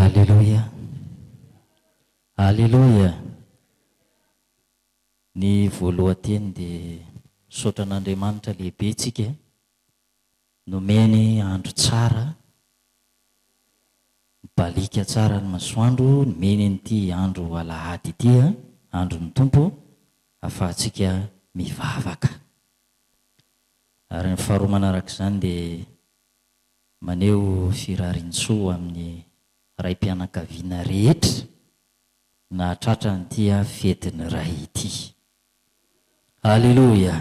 Aleloia! Aleloia! Ny voalohan-teny dia misaotra an'Andriamanitra lehibe tsika nomeny andro tsara, mibaliaka tsara ny masoandro, nomeny an'ity andro alahady ity, andron'ny Tompo, ahafahantsika mivavaka. Ary ny faharoa manarak'izany dia Maneho firariantsoa ho amin'ny raim-pianakaviana rehetra nahatratra an'ity fetin'ny Ray ity. Haleloia!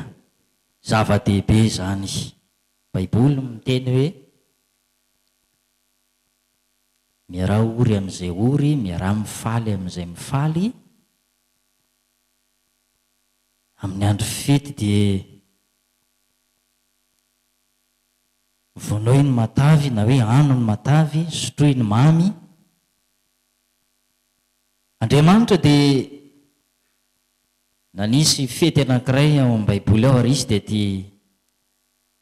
Zava-dehibe izany. Baiboly miteny hoe, Miaraha ory amin'izay ory, miaraha mifaly amin'izay mifaly. Amin'ny andro fety dia Vonoy ny matavy na hoe ano ny matavy, sotroy ny mamy. Andriamanitra dia nanisy fety anankiray ao amin'ny Baiboly ao ary izy dia ity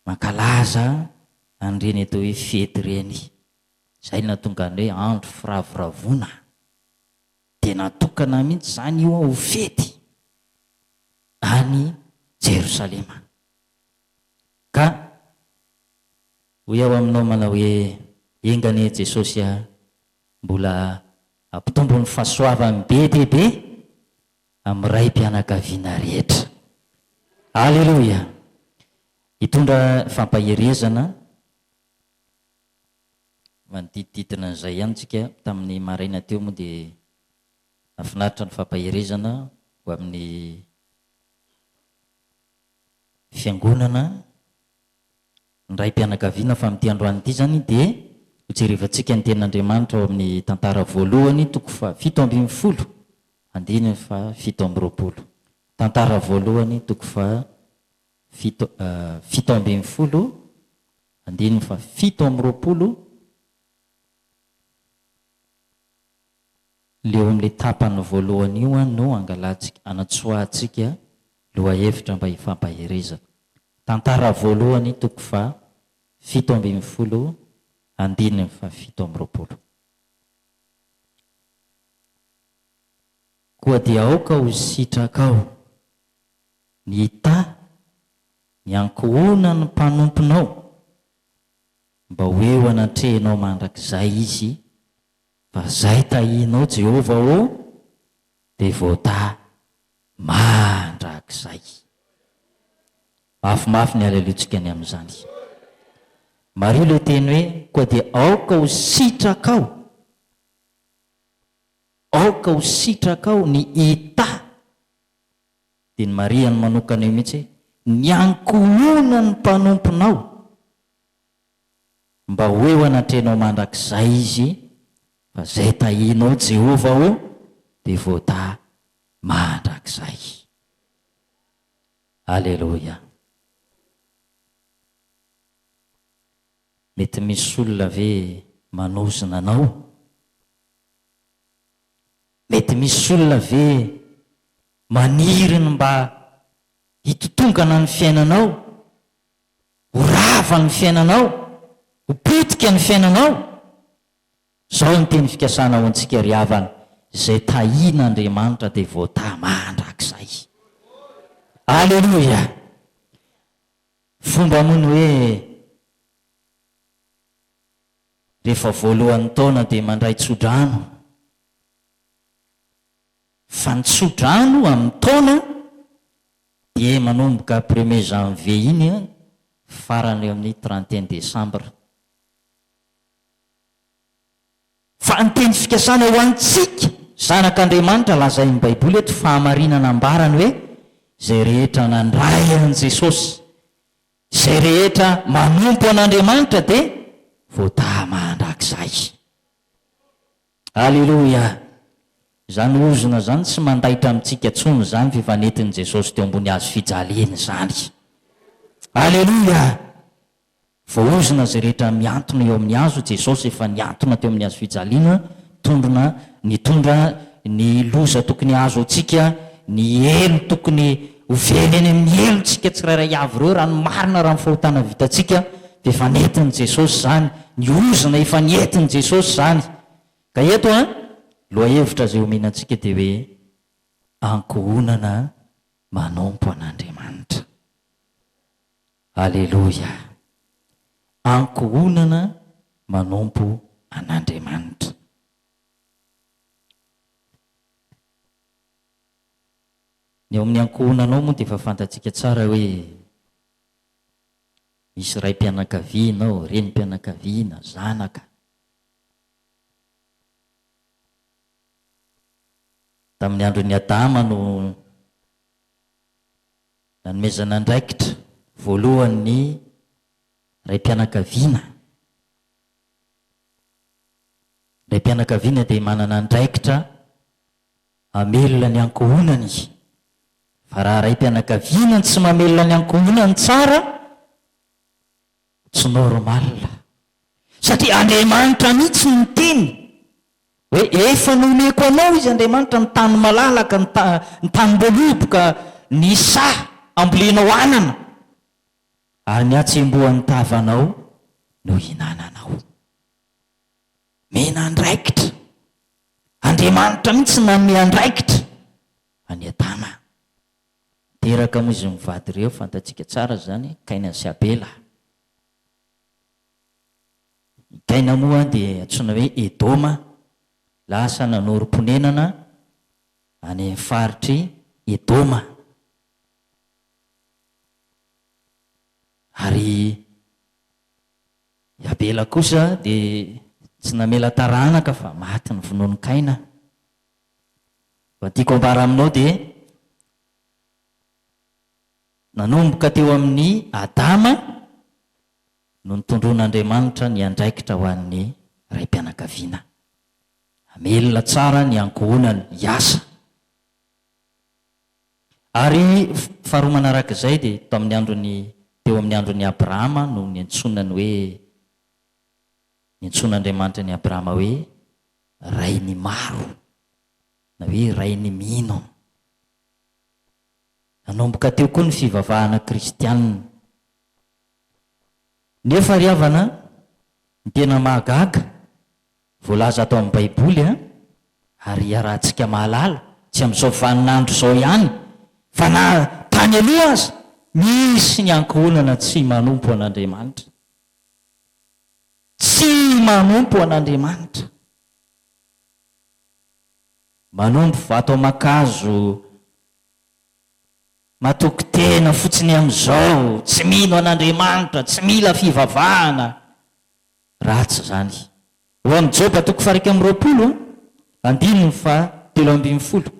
mankalaza an'ireny atao hoe fety ireny. Izay no nahatonga ny hoe andro firavoravoana. Dia natokana mihitsy izany io ho fety any Jerosalema. Ka hoy aho aminao manao hoe, Enga anie Jesosy a, mbola ampitombo ny fahasoavany be dia be amin'ny raim-pianakaviana rehetra. Aleloia! Hitondra fampaherezana manodidididina an'izay ihany tsika tamin'ny maraina teo moa dia nahafinaritra ny fampaherezana ho amin'ny. fiangonana, ny raim-pianakaviana fa amin'ity androany ity izany dia hojerevantsika ny Tenin'Andriamanitra ao amin'ny Tantara voalohany toko fahafito ambin'ny folo andininy fahafito amby roapolo. Tantara voalohany toko fahafito fito ambin'ny folo andininy fahafito amby roapolo. Le eo amin'le tapany voalohany io an no angalatsika, anatsoahatsika lohahevitra mba hifampaherezana. Tantara voalohany toko faha fito ambin'ny folo andininy faha fito amby roapolo. Koa dia aoka ho sitrakao ny hita ny ankohonan'ny mpanomponao mba ho eo anatrehanao mandrakizay izy fa izay tahinao Jehovah ô, dia voatahy mandrakizay. Mafimafy ny halelointsika ny amin'izany. Mariho ilay teny hoe, koa dia aoka ho sitrakao, aoka ho sitrakao ny hita. Dia ny marihany manokana eo mihitsy hoe, ny ankohonan'ny mpanomponao. Mba ho eo anatrehanao mandrakizay izy, fa izay tahinao Jehovah ô, dia voatahy mandrakizay. Aleloia! Mety misy olona ve manozona anao? Mety misy olona ve maniry ny mba hitotongana ny fiainanao? ho rava ny fiainanao, ho potika ny fiainanao. Izao ny teny fikasana ho antsika ry havana, izay tahin'Andriamanitra dia voatahy mandrakizay. Aleloia! Fomba moa ny hoe rehefa voalohan'ny taona dia mandray tsodrano, fa ny tsodrano amin'ny taona Dia manomboka premier janvier iny an, farany eo amin'ny trente et un décembre. Fa ny teny fikasana ho antsika zanak'Andriamanitra lazain'ny Baiboly eto, fahamarinana ambarany hoe, izay rehetra nandray an'i Jesosy, izay rehetra manompo an'Andriamanitra dia voadaha mandrakizay. Aleloia! Zany ozona zany tsy mandaitra amintsika tsony zany fefa nentiny Jesosy teo ambony hazo fijaliany zany. Aleloia! Voahozona zay rehetra miantona eo amin'ny hazo Jesosy efa niantona teo amin'ny hazo fijaliana tondrona nitondra ny loza tokony hahazo antsika, ny helo tokony Ho very eny amin'ny helontsika tsirairay avy ireo raha ny marina raha ny fahotana vitantsika dia efa nentin'i Jesosy izany, ny ozona efa nentin'i Jesosy izany. Ka eto an, lohahevitra izay omenantsika dia hoe, Ankohonana manompo an'Andriamanitra. Aleloia. Ankohonana manompo an'Andriamanitra. Ny ao amin'ny ankohonanao moa dia efa fantatsika tsara hoe misy raim-pianakaviana ao, renim-pianakaviana, zanaka. Tamin'ny andron'i Adama no nanomezana andraikitra voalohany ny raim-pianakaviana. Ny raim-pianakaviana dia manana andraikitra hamelona ny ankohonany. Fa raha raim-pianakaviana no tsy mamelona ny ankohonany tsara, tsy normal. Satria Andriamanitra mihitsy no niteny hoe efa nomeko anao izy Andriamanitra ny tany malalaka, ny ta, ny tanim-boaloboka, ny saha ambolenao anana. Ary ny hatsembohan'ny tavanao no ihinananao. Omena andraikitra. Andriamanitra mihitsy no nanome andraikitra an'i Adama. Niteraka moa izy mivady ireo, fantatsika tsara izany, Kaina sy Abela. I Kaina moa dia antsoina hoe Edoma, lasa nanorim-ponenana any amin'ny faritr'i Edoma. Ary I Abela kosa dia tsy namela taranaka fa maty novonoin'i Kaina. Raha ny tiako ambara aminao dia nanomboka teo amin'i Adama no nitondroin'Andriamanitra ny andraikitra ho an'ny raim-pianakaviana. Hamelona tsara ny ankohonany hiasa. Ary faharoa manaraka izay dia tao amin'ny andron'i, teo amin'ny andron'i Abrahama no niantsoana ny hoe, niantsoan'Andriamanitra an'i Abrahama hoe rain'ny maro, na hoe rain'ny mino. Nanomboka teo koa ny fivavahana kristiana. Nefa ry havana, ny tena mahagaga, Voalaza ato amin'ny Baiboly, ary iarahantsika mahalala, tsy amin'izao vaninandro izao ihany, fa na tany aloha aza, misy ny ankohonana tsy manompo an'Andriamanitra. Tsy manompo an'Andriamanitra. Manompo vato aman-kazo, matoky tena fotsiny amin'izao, tsy mino an'Andriamanitra, tsy mila fivavahana. Ratsy izany. Ao amin'ny Joba toko faha iraika amby roapolo, andininy faha telo ambin'ny folo.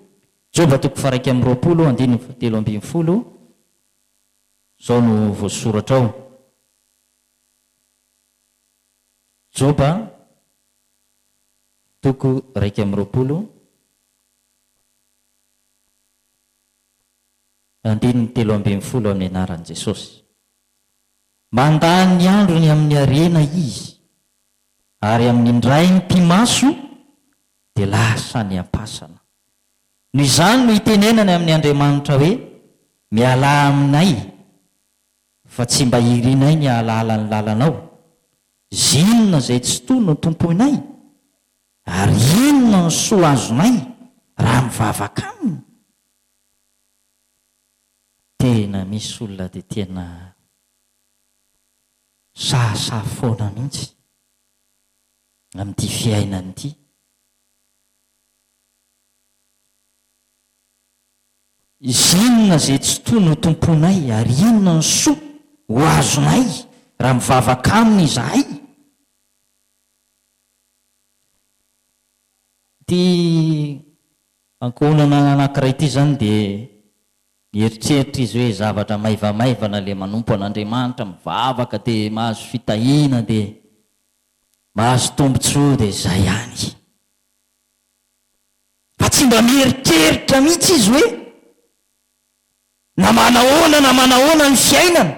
Joba toko faha iraika amby roapolo, andininy faha telo ambin'ny folo, izao no voasoratra ao. Joba toko iraika amby roapolo, andininy telo ambin'ny folo amin'ny anaran'i Jesosy. Mandany ny androny amin'ny harena izy, ary amin'ny indray mipi-maso dia lasa any am-pasana. Noho izany no itenenany amin'ny Andriamanitra hoe, Mialà aminay, fa tsy mba irinay ny hahalala ny lalanao. Zinona izay tsitoha no tompoinay? Ary inona no soa azonay raha mivavaka aminy? Tena misy olona dia tena sahasaha foana mihitsy amin'ity fiainana ity. Izinona izay tsy toa notompoinay ary inona ny soa ho azonay raha mivavaka Aminy izahay? Ity Ankohonana anankiray ity izany dia mieritreritra izy hoe zavatra maivamaivana ilay manompo an'Andriamanitra, mivavaka dia mahazo fitahiana dia mahazo tombotsoa dia izay ihany. Fa tsy mba mieritreritra mihitsy izy hoe na manahoana na manahoana ny fiainana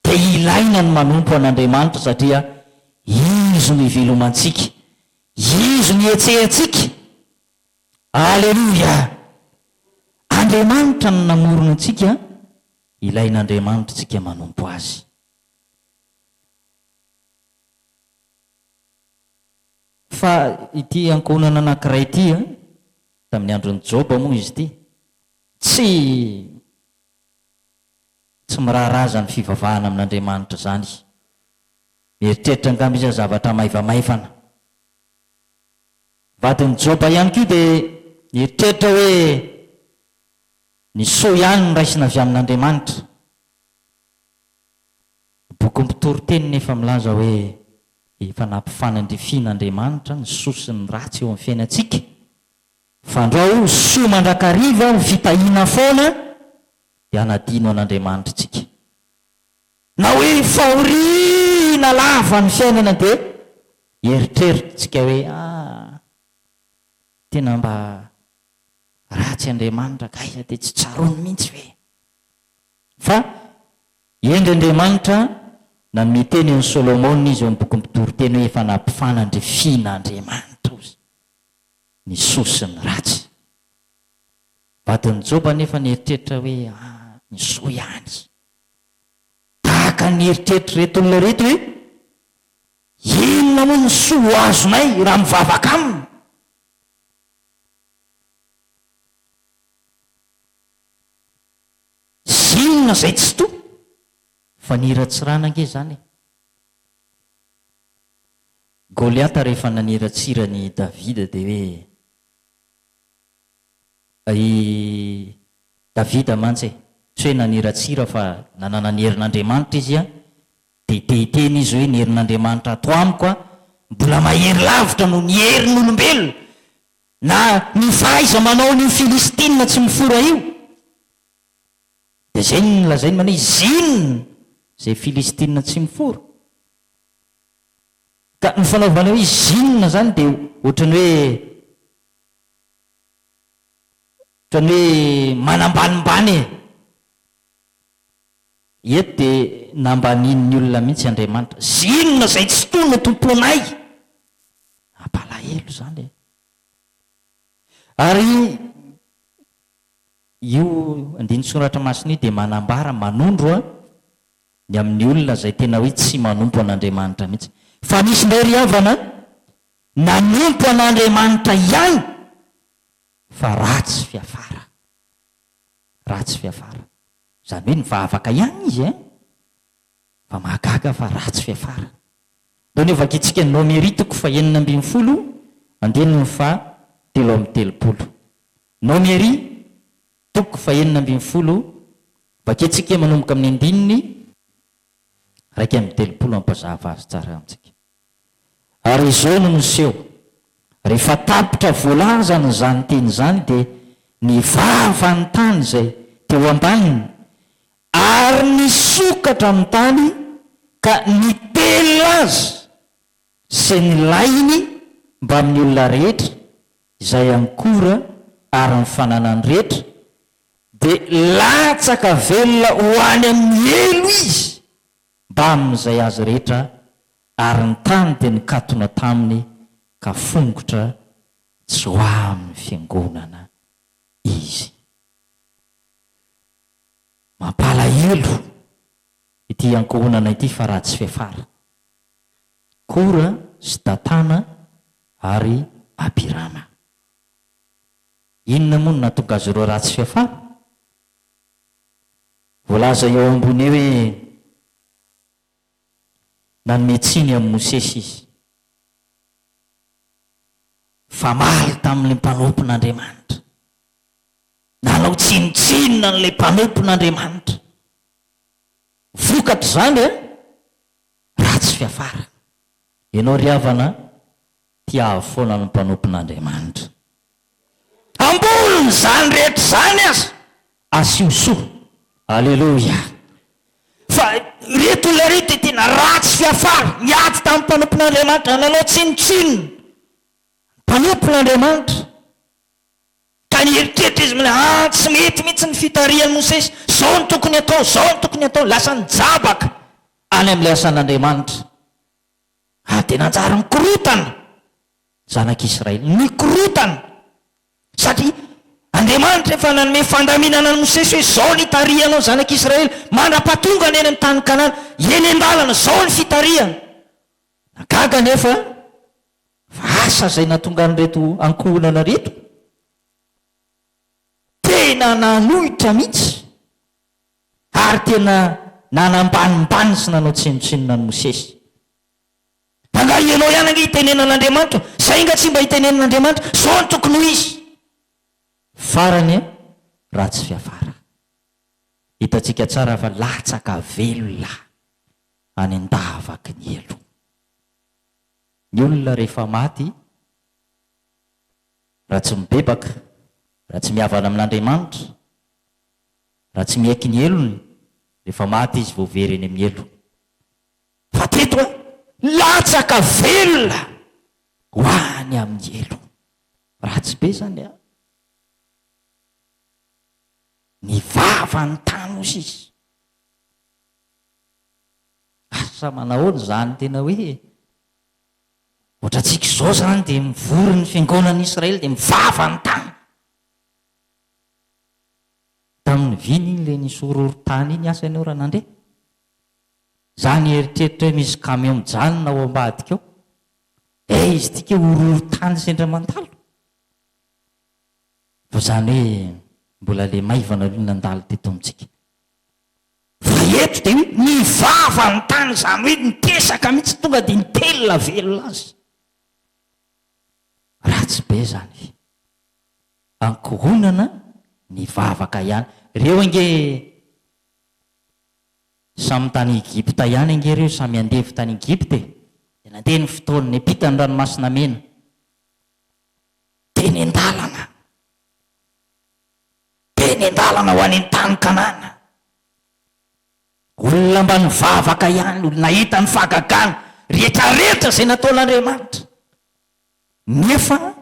dia ilaina ny manompo an'Andriamanitra satria Izy no ivelomantsika, Izy no ihetsehantsika, Aleloia! Andriamanitra no namorona antsika, ilain'Andriamanitra antsika manompo Azy. Fa ity ankohonana anankiray ity, tamin'ny andron'i Joba moa izy ity, tsy tsy miraharaha izany fivavahana amin'Andriamanitra izany. Mieritreritra angamba izy zavatra maivamaivana. vadin'i Joba ihany koa dia nieritreritra hoe ny soa ihany no raisina avy amin'Andriamanitra. Ny bokin'ny Mpitoriteny nefa milaza hoe efa nampifanandrifian'Andriamanitra ny soa sy ny ratsy eo amin'ny fiainantsika. Fandrao soa mandrakariva ho fitahiana foana dia hanadino an'Andriamanitra isika. Na hoe fahoriana lava ny fiainana dia eritreritrtsika hoe ah tena mba ratsy Andriamanitra kay dia tsy tsaroany mihintsy ve? Fa hendry Andriamanitra nanome teny an'i Solomona izy eo amin'ny bokin'ny Mpitoriteny hoe efa nampifanandrifiana Andriamanitra ozy ny soa sy ny ratsy. Vadin'i Joba anefa nieritreritra hoe ah ny soa ihany. Tahaka ny eritreritre'ireto olona ireto hoe, Inona moa ny soa ho azonay raha mivavaka aminy? Zinona izay tsy toa? Fa niratsirana ange izany e! Goliata rehefa naniratsira an'i Davida dia hoe, I Davida mantsy e! tsy hoe naniratsira fa nanana ny herin'Andriamanitra izy an! dia te hiteny izy hoe ny herin'Andriamanitra ato amiko an! mbola mahery lavitra noho ny herin'olombelona na ny fahaiza-manaon'io Filistina tsy mifora io! dia izay no nolazainy mania izy inona izay Filistina tsy mifora? ka ny fanaovana hoe izy inona izany dia ohatran'ny hoe Ohatran'ny hoe manambanimbany e! Eto dia nambanian'ny olona mihitsy Andriamanitra. Izay inona izay tsy toy no tompoinay? Mampalahelo izany e! Ary io andinin-tsoratra masina io dia manambara, manondro ny amin'ny olona izay tena hoe tsy manompo an'Andriamanitra mihitsy. Fa misy indray ry havana nanompo an'Andriamanitra ihany. fa ratsy fiafara. Ratsy fiafara. Izany hoe nivavaka ihany izy eh! Fa mahagaga fa ratsy fiafara. Ndao ny ho vakintsika ny Nomery toko fahenina ambin'ny folo andininy faha telo amby telopolo. Nomery toko fahenina ambin'ny folo, vakintsika manomboka amin'ny andininy iraika amby telopolo hampazava azy tsara amintsika. Ary izao no niseho, rehefa tapitra voalazany izany teny izany dia ny vava ny tany izay teo ambaniny ary nisokatra ny tany ka nitelina azy sy ny lainy mbamin'ny olona rehetra izay ankora ary ny fananany rehetra dia latsaka velona ho any amin'ny helo izy mbamin'izay azy rehetra, ary ny tany dia nikatona taminy, ka fongotra tsy ho amin'ny fiangonana izy. Mampalahelo ity iankohonana ity fa ratsy fiafara. Kora sy Datana ary Abirama. Inona moa no nahatonga azy ireo ratsy fiafara? Voalaza eo ambony eo hoe nanome tsiny an'i Mosesy izy. Famaly tamin'ilay mpanompon'Andriamanitra. Nanao tsinontsinona an'ilay mpanompon'Andriamanitra. Vokatr'izany, ratsy fiafara. Ianao ry havana, tiavo foana ny mpanompon'Andriamanitra. Ambonin'izany rehetra izany aza, asio soa. Aleloia! Fa ireto olona ireto dia tena ratsy fiafara, niady tamin'ny mpanompon'Andriamanitra, nanao tsinontsinona ny mpanompon'Andriamanitra, ka nieritreritra izy mila, ah, tsy mety mihitsy ny fitarihan'i Mosesy, izao no tokony hatao, izao no tokony hatao, lasa nijabaka any amin'ilay asan'Andriamanitra. Ary dia nanjary nikorontana ny zanak'Israely. Nikorontana! Satria Andriamanitra efa nanome fandaminana an'i Mosesy hoe izao ny hitarihanao ny zanak'Israely mandra-pahatongany any amin'ny tany Kanana. Eny an-dalana, izao ny fitarihana. Nagaga anefa fa asa izay natongan'ireto ankohonana ireto. Tena nanohitra mihitsy. Ary tena nanambanimbany sy nanao tsinontsinona an'i Mosesy. Angaha ianao ihany ange itenenan'Andriamanitra? Izay nga tsy mba itenenin'Andriamanitra? Izao no tokony ho izy! Farany e, raha tsy fiafara. Hitantsika tsara fa latsaka velona any an-davaky ny helo. Ny olona rehefa maty, raha tsy mibebaka, raha tsy mihavana amin'Andriamanitra, Raha tsy miaiky ny helony, rehefa maty izy vao very eny amin'ny helo. Fa teto a! Latsaka velona ho any amin'ny helo. Ratsy be izany a! Ny vavany tano osa izy. Asa manahoana izany tena hoe ohatrantsika izao izany dia mivory ny fiangonan'i Israely dia mivava ny tany. Tamin'ny vina iny ilay nisy horohorontany iny asa ianao raha nandre? Za nieritreritra hoe misy camion mijanona ao ambadika ao. Eh izy ity kay horohorontany sendra mandalo. Fa izany hoe mbola ilay maivana aloha nandalo teto amintsika. Fa eto dia hoe nivava ny tany izany hoe nitesaka mihitsy tonga dia nitelina velona azy. Ratsy be izany. ankohonana ny vavaka ihany reo ange samy tany Egypta ihany ange reo samy andevo tany Egypta e de nandeha ny fotoana niampita ny ranomasina mena teny andalana teny andalana ho any an tany kanana olona mba nivavaka ihany nahita ny fahagagana rehetrarehetra zay nataon'Andriamanitra nefa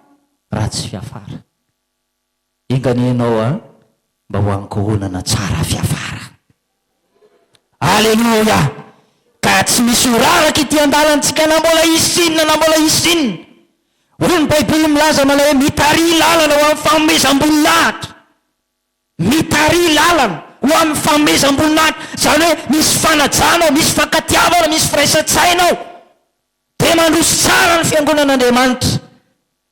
ratsy fiafara. Enga anie ianao a mba ho ankohonana tsara fiafara. Aleloia! Ka tsy misy ho raraka ity andalantsika na mbola hisy inona na mbola hisy inona. Hoy ny Baiboly milaza manao hoe mitarihy lalana ho amin'ny fanomezam-boninahitra. Mitarihy lalana ho amin'ny fanomezam-boninahitra, izany hoe misy fanajana ao, misy fankatiavana, misy firaisan-tsaina ao. Dia mandroso tsara ny fiangonan'Andriamanitra,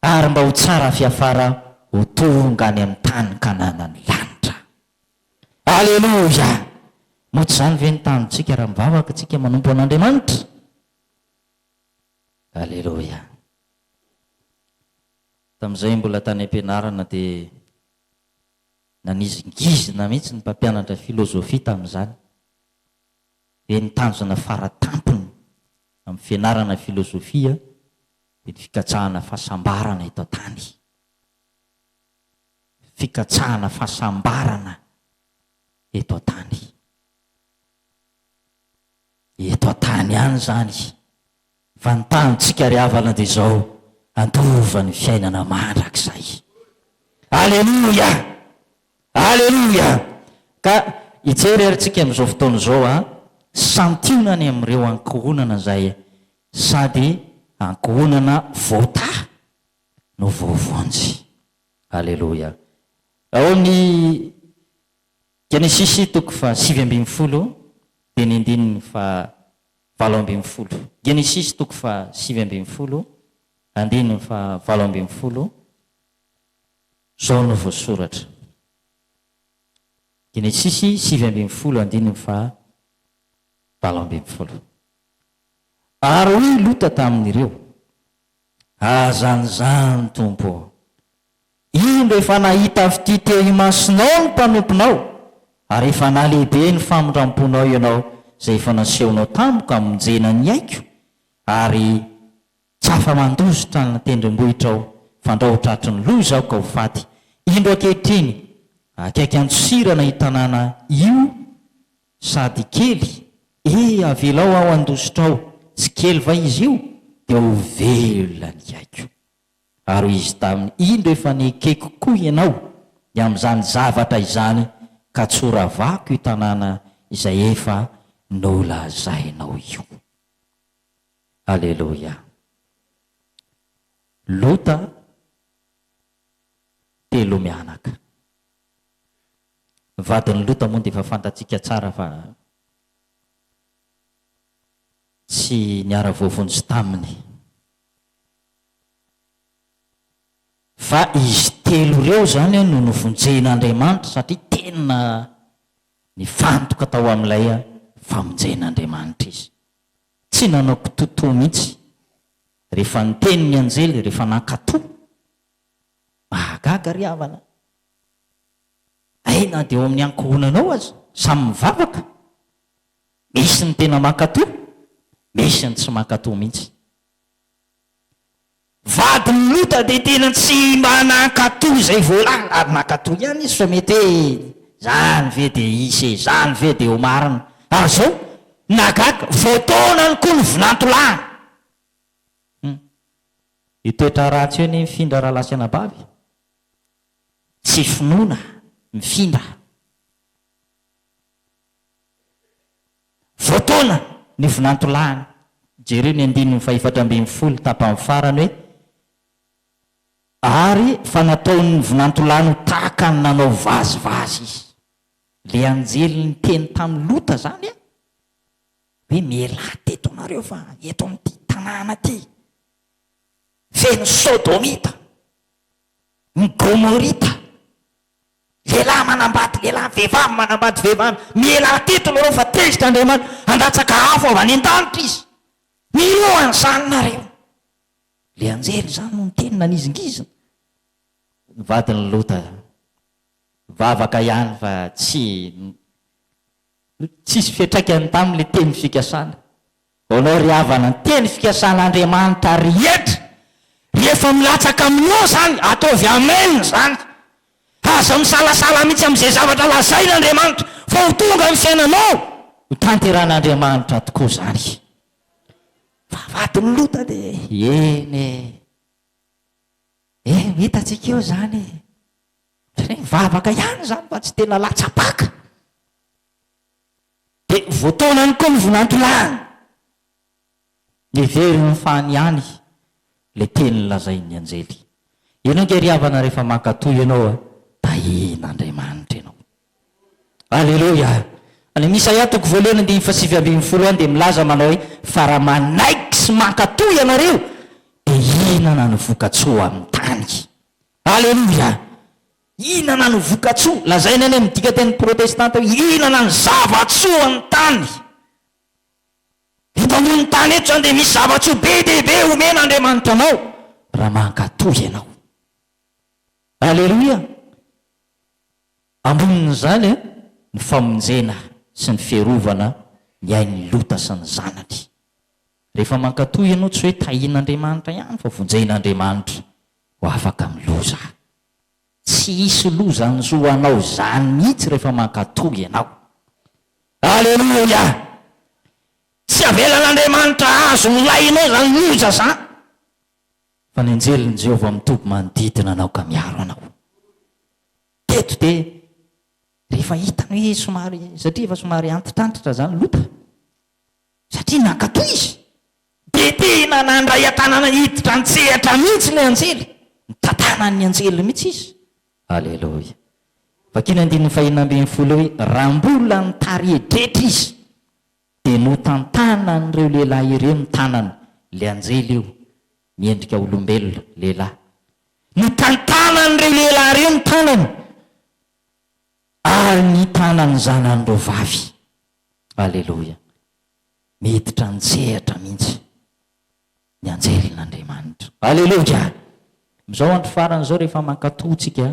ary mba ho tsara fiafara ho tonga any amin'ny tany kananan'ny lanitra. Aleloia! Moa tsy izany ve ny tanjontsika raha mivavaka isika manompo an'Andriamanitra? Aleloia! Tamin'izay mbola tany am-pianarana dia nanizingizina mihitsy ny mpampianatra filozofia tamin'izany. dia ny tanjona fara tampony amin'ny fianarana filozofia dia ny fikatsahana fahasambarana eto an-tany. Fikatsahana fahasambarana eto an-tany. Eto an-tany ihany izany Vantantsika ry havana dia izao, handova ny fiainana mandrakizay. Aleloia! Aleloia! Ka hijery ary tsika amin'izao fotoana izao an, santionany amin'ireo ankohonana izay sady ankohonana voataha no voavonjy. Aleloia! Ao amin'ny. Genesisy toko faha sivy ambin'ny folo dia ny andininy faha valo ambin'ny folo. Genesisy toko faha sivy ambin'ny folo andininy faha valo ambin'ny folo, izao no voasoratra. Genesisy sivy ambin'ny folo andininy faha valo ambin'ny folo. Ary hoy Lota tamin'ireo, Aza an'izany, Tompo ô! Indro efa nahita fitia teo imasonao ny mpanomponao, ary efa nahalehibe ny famindram-ponao ianao izay efa nasehonao tamiko hamonjena ny aiko, ary tsy afa-mandositra ny tendrombohitrao, fandrao ho tratry ny loza aho ka ho faty. Indro ankehitriny, akaiky an-tsosirana io tanàna io sady kely, ee avelao aho handositra ao, tsy kely va izy io, dia ho velona ny aiko. Ary hoy izy taminy, Indro efa nekeko koa ianao ny amin'izany zavatra izany, ka tsoravako io tanàna izay efa nolazainao io. Aleloia. Lota telo mianaka. Ny vadin'i Lota moa dia efa fantatsika tsara fa tsy niara-voavonjy taminy. Fa izy telo ireo izany no novonjen'Andriamanitra satria tena nifantoka tao amin'ilay famonjen'Andriamanitra izy. Tsy nanao kitoatoa mihitsy rehefa niteny ny anjely, rehefa nankatò. Mahagaga ry havana a! Hay na dia ao amin'ny ankohonanao aza, samy mivavaka, Misy ny tena mankatò, misy ny tsy mankatò mihitsy. Vadin'i Lota dia tena tsy mba nankatò izay voalaza, ary nankatò ihany izy fa mety hoe izany ve dia hisy e, izany ve dia ho marina. Ary izao, nagaga, voataonany koa ny vinantolahiny. Hum. Io toetra ratsy io anie mifindra rahalahy sy anabavy. Tsy finoana mifindra. Voataona ny vinantolahiny. Jereo ny andininy fahefatra ambin'ny folo tapany farany hoe, Ary fa nataon' ny vinantolahiny ho tahaka ny nanao vazivazy izy. Ilay anjely niteny tamin'i Lota izany hoe, Mialà teto ianareo fa eto amin'ity tanàna ity feno Sodomita, ny Gomorita, Lehilahy manambady lehilahy, vehivavy manambady vehivavy, miela atitony ireo fa tezitra Andriamanitra handatsaka afo avy any an-danitra Izy. Miloha an'izany nareo. Ilay anjely izany no niteny nanizingizina. Ny vadin'i Lota nivavaka ihany fa tsy tsisy fiantraikany taminy ilay teny fikasana. Hono ry havana ny teny fikasan' Andriamanitra rehetra rehefa milatsaka aminao izany ataovy amen izany. Aza misalasala mihitsy amin' izay zavatra lazain' Andriamanitra fa ho tonga amin' ny fiainanao. Ho tanteran' Andriamanitra tokoa izany. Fa vadin' Lota de eny e! Eny hitantsika eo izany e! Satria mivavaka ihany izany fa tsy tena latsa-paka. Dia voataona ihany koa ny vinantolahiny. Miverina ho fany ihany ilay teny nolazain'ny anjely. Io no ange ry havana rehefa mankatò ianao, tahian'Andriamanitra ianao. Aleloia! Any amin'ny Isaia toko voalohany andininy fahasivy ambin'ny folo any dia milaza manao hoe, Fa raha manaiky sy mankatò ianareo, dia hihinana ny voka-tsoa amin'ny tany. Aleloia! Hihinana ny voka-tsoa. Lazaina any amin'ny dikan-teny protestanta hoe hihinana ny zava-tsoa ny tany. Eto ambonin'ny tany eto izany dia misy zava-tsoa be dia be omen'Andriamanitra anao raha mankatò ianao. Aleloia! Ambonin'izany ny famonjena sy ny fiarovana ny ain'i Lota sy ny zanany. Rehefa mankatò ianao tsy hoe tahin'Andriamanitra ihany fa vonjen'Andriamanitra ho afaka amin'ny loza. Tsy hisy loza anjo anao izany mihitsy rehefa mankatò ianao. Aleloia! Tsy avelan'Andriamanitra hahazo ny lahinao izany loza izany, fa ny anjelin'i Jehovah mitoby manodidina anao ka miaro anao. Teto dia rehefa hitany hoe somary, satria efa somary antitrantitra izany Lota, satria nankatò izy. Dia tena nandray an-tanana hiditra an-tsehatra mihitsy ilay anjely. Nitantanana ny anjeliny mihitsy izy. Aleloia. Vakio ny andininy fahenina ambin'ny folo hoe, Raha mbola nitari-hedretra izy, dia notantanan'ireo lehilahy ireo ny tanany, ilay anjely io, miendrika olombelona, lehilahy. Notantanan'ireo lehilahy ireo ny tanany, ary ny tanan'ny zanany roa vavy. Aleloia. miditra an-tsehatra mihitsy ny anjelin'Andriamanitra. Aleloia! Amin'izao andro farany izao rehefa mankatò tsika,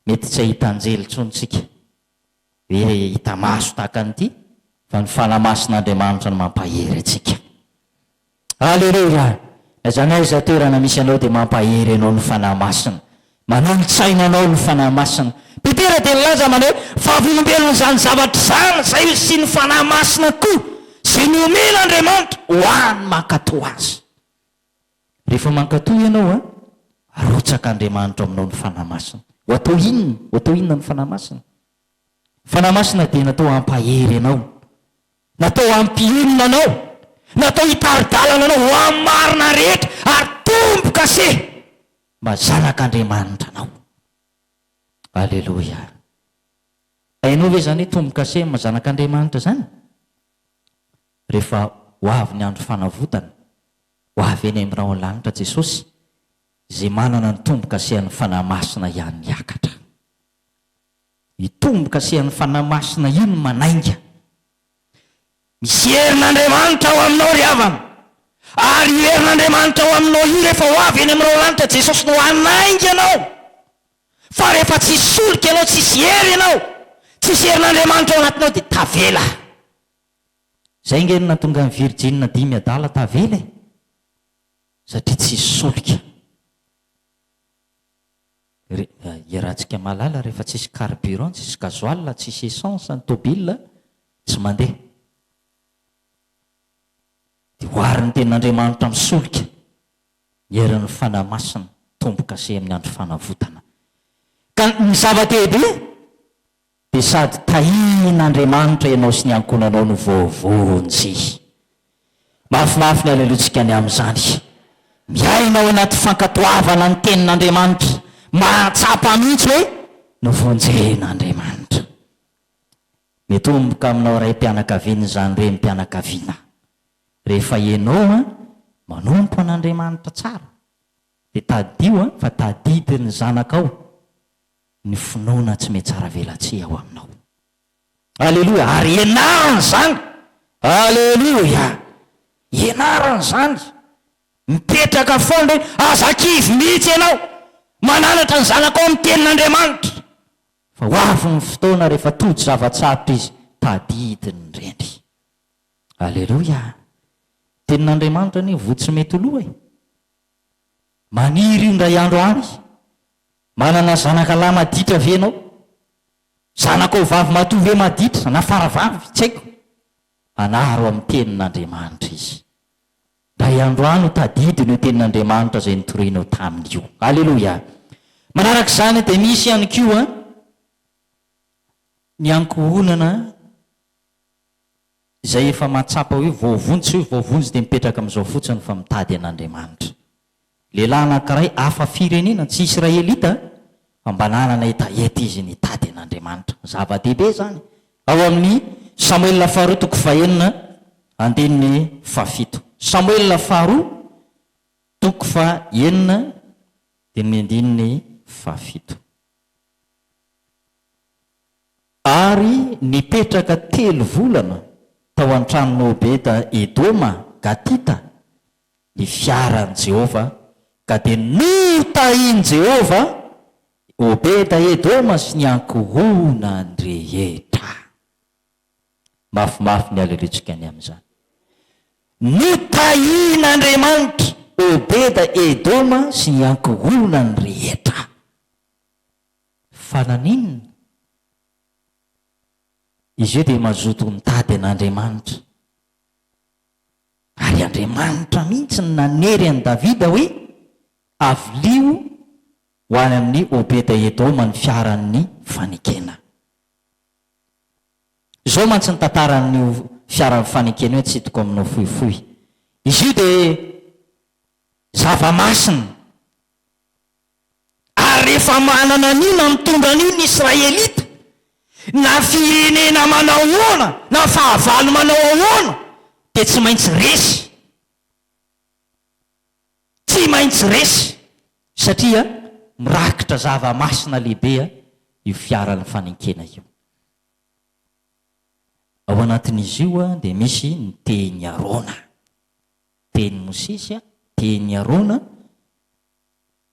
mety tsy hahita anjely intsony tsika, hoe hita maso tahaka an'ity, fa ny Fanahy Masin'Andriamanitra no mampahery antsika. Aleloia! Na izany aiza toerana misy anao dia mampahery anao ny Fanahy Masina. Manolo-tsaina anao ny Fanahy Masina. Petera dia nilaza amany hoe, Vavolombelon' izany zavatra izany izay ho sin' ny Fanahy Masina koa, izay nomen' Andriamanitra ho an' mankatò Azy. Rehefa mankatò ianao, arotsak' Andriamanitra ao aminao ny Fanahy Masina. Ho atao inona? Ho atao inona ny Fanahy Masina? Ny Fanahy Masina dia natao hampahery anao. Natao hampionona anao, natao hitari-dalana anao ho amin'ny marina rehetra, ary tombo-kase mba zanak'Andriamanitra anao. Aleloia! Hainao ve izany hoe tombo-kase amin'ny zanak'Andriamanitra izany? Rehefa ho avy ny andro fanavotana, ho avy eny amin'ny rahon'ny lanitra Jesosy, izay manana ny tombo-kasen'ny Fanahy Masina ihany hiakatra. Ny tombo-kasehan'ny Fanahy Masina iny manainga. Misy herin'Andriamanitra ao aminao ry havana, ary io herin'Andriamanitra ao aminao io rehefa ho avy eny amin'ireo lanitra Jesosy no hanainga anao. Fa rehefa tsisy solika ianao, tsisy hery ianao, tsisy herin'Andriamanitra ao anatinao dia tavela. Izay ange no nahatonga ny virjina dimy adala tavela e! Satria tsisy solika. Iarahantsika mahalala rehefa tsisy carburant, tsisy gasoil, tsisy essence ny tobile tsy mandeha. Dia ho ary ny tenin'Andriamanitra misolika ny herin'ny Fanahy Masina, tombo-kase amin'ny andro fanavotana. Ka ny zava-dehibe. dia sady tahian'Andriamanitra ianao sy ny ankohonanao no voavonjy. Mahafinaritra ny haleloantsika ny amin'izany. Miaina ao anaty fankatoavana ny Tenin'Andriamanitra, mahatsapa mihitsy hoe novonjen'Andriamanitra. Mitomboka aminao raim-pianakaviana izany renim-pianakaviana. Rehefa ianao manompo an'Andriamanitra tsara, dia tadidio fa tadidin'ny zanakao ny finoana tsy mihatsaravelatsihy ao aminao. Aleloia! Ary ianarana izany. Aleloia! Ianarana izany. Mipetraka foana hoe aza kivy mihitsy ianao. Mananatra ny zanakao amin'ny Tenin'Andriamanitra. Fa ho avy ny fotoana rehefa tojo zava-tsarotra izy, tadidiny ny rendry. Aleloia! Tenin'Andriamanitra anie voa tsy mety ho lo e. Maniry io indray andro any. Manana zanaka lahy maditra ve ianao? Zanakao vavy matoa ve maditra, na faravavy, tsy haiko? Anaro amin'ny Tenin'Andriamanitra izy. Indray andro any, tadidino io Tenin'Andriamanitra izay nitorianao taminy io. Aleloia! Manaraka izany, dia misy ihany koa ny ankohonana izay efa mahatsapa hoe voavonjy, tsy hoe voavonjy dia mipetraka amin'izao fotsiny, fa mitady an'Andriamanitra. Lehilahy anankiray hafa firenena, tsy Israelita, fa mba nanana hetaheta izy nitady an'Andriamanitra. Zava-dehibe izany. Ao amin'ny Samoela Faharoa toko fahenina andininy fahafito. Samoela Faharoa toko fahenina dia ny andininy fahafito. Ary nipetraka telo volana tao an-tranon'i Obeda Edoma Gatita, ny fiaran'i Jehovah, ka dia notahin'i Jehovah i Obeda-edoma sy ny ankohonany rehetra. Mafimafy ny haleloantsika ny amin'izany. Notahin'Andriamanitra Obeda-edoma sy ny ankohonany rehetra. Fa naninona? Izy io dia mazoto nitady an'Andriamanitra. Ary Andriamanitra mihitsy no nanery an'i Davida hoe, Avilio ho any amin'i Obeda-edoma ny fiaran'ny fanekena. Izao mantsy ny tantaran'io fiaran'ny fanekena io, atsidiko aminao fohifohy. Izy io dia zava-masina. Ary rehefa manana an'io na mitondra an'io ny Israelita, na firenena manao ahoana na fahavalo manao ahoana dia tsy maintsy resy. Tsy maintsy resy satria mirakitra zava-masina lehibe io fiaran'ny fanenkena io. Ao anatin'izy io dia misy ny tehin'i Arona, tehin'i Mosesy, tehin'i Arona,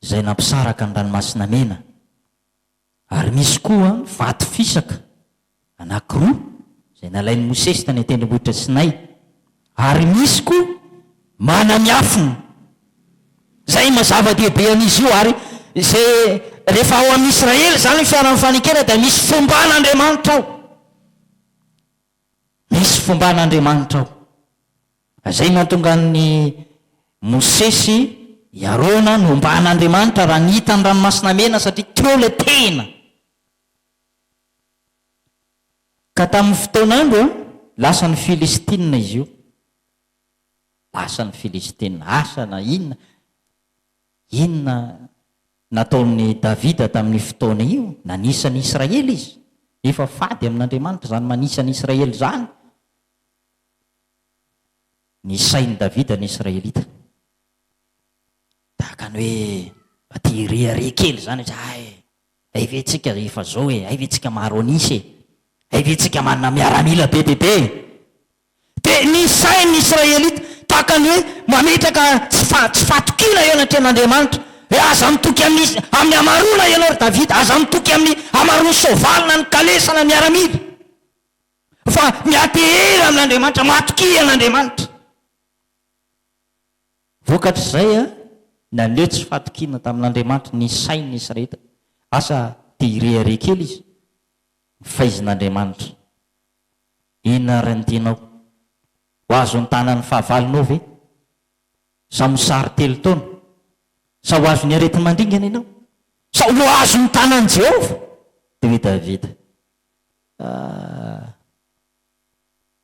izay nampisaraka ny Ranomasina Mena, ary misy koa ny vato fisaka anankiroa izay nalain'i Mosesy tany an-tendrombohitra Sinay, ary misy koa mana miafina, izay maha zava-dehibe an'izy io, ary izay rehefa ao amin'i Israely izany ny fiaran'ny fanekena dia misy fomban'Andriamanitra ao. Misy fomban'Andriamanitra ao. Izay nahatonga an'i Mosesy, i Arona nomban'Andriamanitra raha nihita ny Ranomasina Mena satria teo ilay tena. Ka tamin'ny fotoan'andro, lasa ny Filistina izy io. Lasa ny Filistina. Asa na inona, inona Nataon'i Davida tamin'io fotoana io, nanisa ny Israely izy. Efa fady amin'Andriamanitra izany manisa ny Israely izany. Nisain'i Davida ny Israelita. Tahaka ny hoe mba te hirehareha kely izany izy, hay, hay ve tsika efa izao e, hay ve tsika maro an'isa e, hay ve tsika manana miaramila be dia be e. Dia ny sain'ny Israelita tahaka ny hoe mametraka tsy fa tsy fatokiana eo anatrehan'Andriamanitra, hoe aza mitoky amin'ny amin'ny hamaroana ianao ry Davida, aza mitoky amin'ny hamaroan'ny soavaly na ny kalesa na miaramila, fa miantehery amin'Andriamanitra, matokia an'Andriamanitra. Vokatr'izay, naneho tsy fatokiana tamin'Andriamanitra ny sain'ny Israelita, asa te hirehareha kely izy, ny faizin'Andriamanitra. Inona ary ny tianao? Ho azon'ny tanan'ny fahavalonao ve? Sa mosary telo taona? Sa ho azon'ny aretin'ny mandringana ianao? Sa ho azon'ny tanan'i Jehovah? Dia hoy Davida, Aah,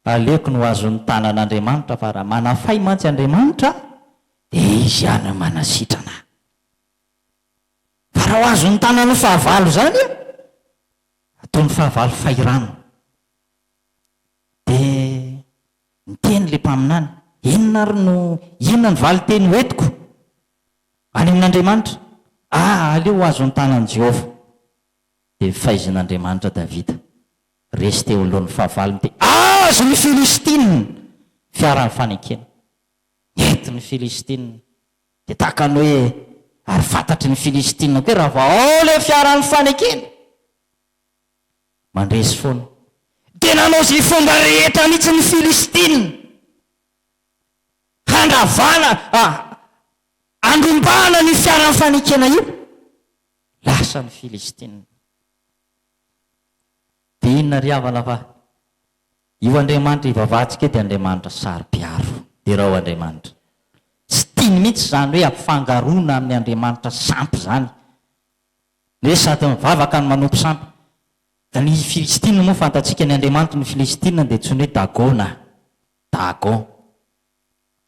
aleoko ny ho azon'ny tanan'Andriamanitra, fa raha manafay mantsy Andriamanitra, dia izy ihany no manasitrana ahy. Fa raha ho azon'ny tanan'ny fahavalo izany, Toy ny fahavalo fahirano. Dia niteny ilay mpaminany, Inona ary no, inona ny valin-teny hoentiko any amin'Andriamanitra? Ah, aleo ho azon'ny tanan'i Jehovah. Dia nifaizin'Andriamanitra Davida. Resy teo anoloan'ny fahavalony dia azo ny Filistina! Fiaran'ny fanekena. Nety ny Filistina. Dia tahaka ny hoe ary fantatry ny Filistina koa raha vao ao ilay fiaran'ny fanekena. Mandresy foana. Dia nanao izay fomba rehetra mihitsy ny Filistina handravana, handrombahana an'io fiaran'ny fanekena io. Lasa ny Filistina. Dia inona ry havana fa Io Andriamanitra ivavahantsika io dia Andriamanitra saro-piaro. Derao Andriamanitra. Tsy tiany mihitsy izany hoe ampifangaroana amin'ny andriamanitra sampy izany. Ny hoe sady mivavaka no manompo sampy. Ny Filistina moa fantatsika ny andriamanitry ny Filistina dia antsoina hoe Dagona, Dagon.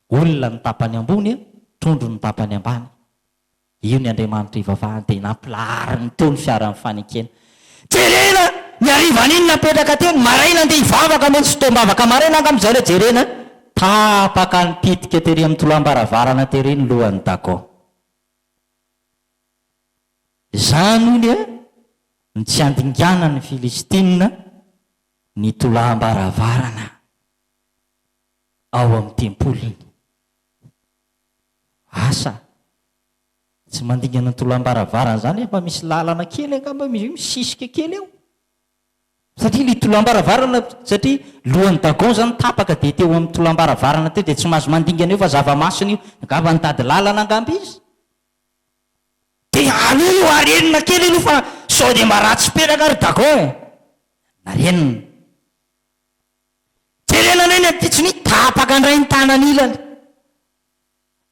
Olona ny tapany ambony, trondro ny tapany ambany. Io ny Andriamanitra ivavahany dia nampilahariny nitony fiaran'ny fanekena. Jerena ny harivan iny napetraka teo ny maraina andeha hivavaka mety tsy fotoam-bavaka maraina angamba izay ilay jerena a! Tapaka nipitika tery amin'ny toloam-baravarana tery ny lohan'i Dago. Izany hono a no tsy handinganan'ny Filistina ny toloam-baravarana ao amin'ny tempoliny. asa tsy mandingana ny tolambaravarana zany efa misy lalana kely angamba izy io misisika kely eo satria ny tolambaravarana satria lohan'ny dagon zany tapaka dia teo amin'ny tolambaravarana teo dia tsy mahazo mandingana eo fa zava-masina io angamba nitady lalana angamba izy dia aloha io arenina kely aloha fa sao dia mba ratsy peraka ry dagon e na renina Jerena indray ny ampitson'io, tapaka indray ny tanan'ilany.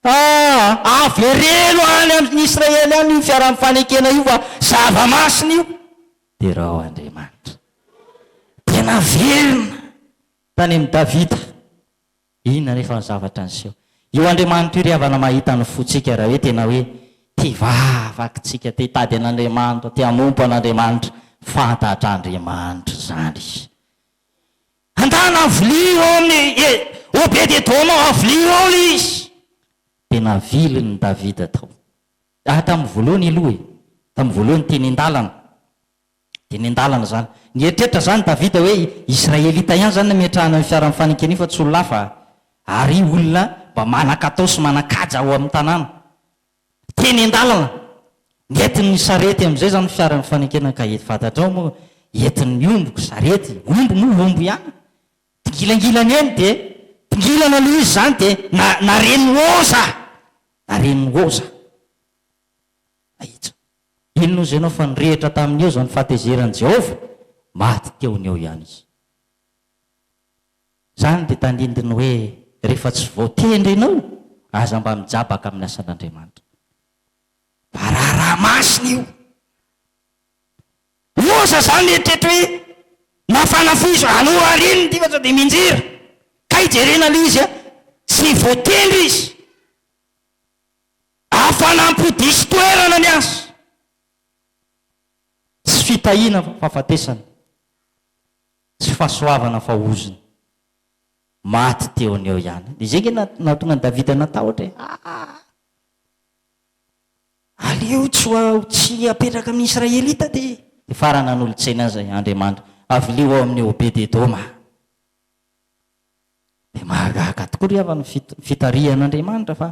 Ah, avereno any amin'ny Israely any io fiaraha-mifanekena io fa zava-masina io. Derao Andriamanitra. Dia naverina tany amin'i Davida. Inona anefa ny zavatra niseho? Io Andriamanitra io ry havana mahita ny fontsika raha hoe tena hoe tia vavakintsika, te hitady an'Andriamanitra, te hanompo an'Andriamanitra, fantatr'Andriamanitra izany. Andana ny vilia eo amin'i E, Obed-edoma, avilia eo ilay izy. Dia navilin'i Davida tao. Ary tamin'ny voalohany aloha e, tamin'ny voalohany teny an-dalana, teny an-dalana izany. Nieritreritra izany Davida hoe Israelita ihany izany no ametrahana ny fiaran'ny fanenkena io fa tsy olona hafa. Ary olona mba manan-katao sy manan-kaja ao amin'ny tanàna. Teny an-dalana, ny entin'ny sarety amin'izay izany fiara mifanekena ka eto fantatrao moa entin'ny ombiko sarety, omby moa omby ihany, dingilangilana eny dia dingilana aloha izy izany dia na naren'i Woza! Naren'i Woza! Ahitsy. Inona hozy ianao fa nirehitra tamin'i Woza ny fahatezeran'i Jehovah? Maty teo ny eo ihany izy. Izany dia tandindon'ny hoe rehefa tsy voatendry ianao, aza mba mijabaka amin'ny asan'Andriamanitra. Fa raharaha masina io. Loza izany ny eritreritro hoe na fanafiso, alou ariny ity fa sao dia minjera. Kay jerena aloha izy an! Tsy voatendry izy. Hafanam-po diso toerana ny asa. Tsy fitahiana fa fahafatesana. Tsy fahasoavana fa ozona. Maty teo an'i eo ihany. Dia izay ange nahatonga an'i Davida natahotra e. Aa! Aleo tsy ho aho tsy hapetraka amin'ny Israelita dia. Dia farany nanolo-tsaina azy i Andriamanitra. Avilio ao amin'i Obed-Edoma. Dia mahagaga tokoa ry havana ny fitarihan'Andriamanitra fa.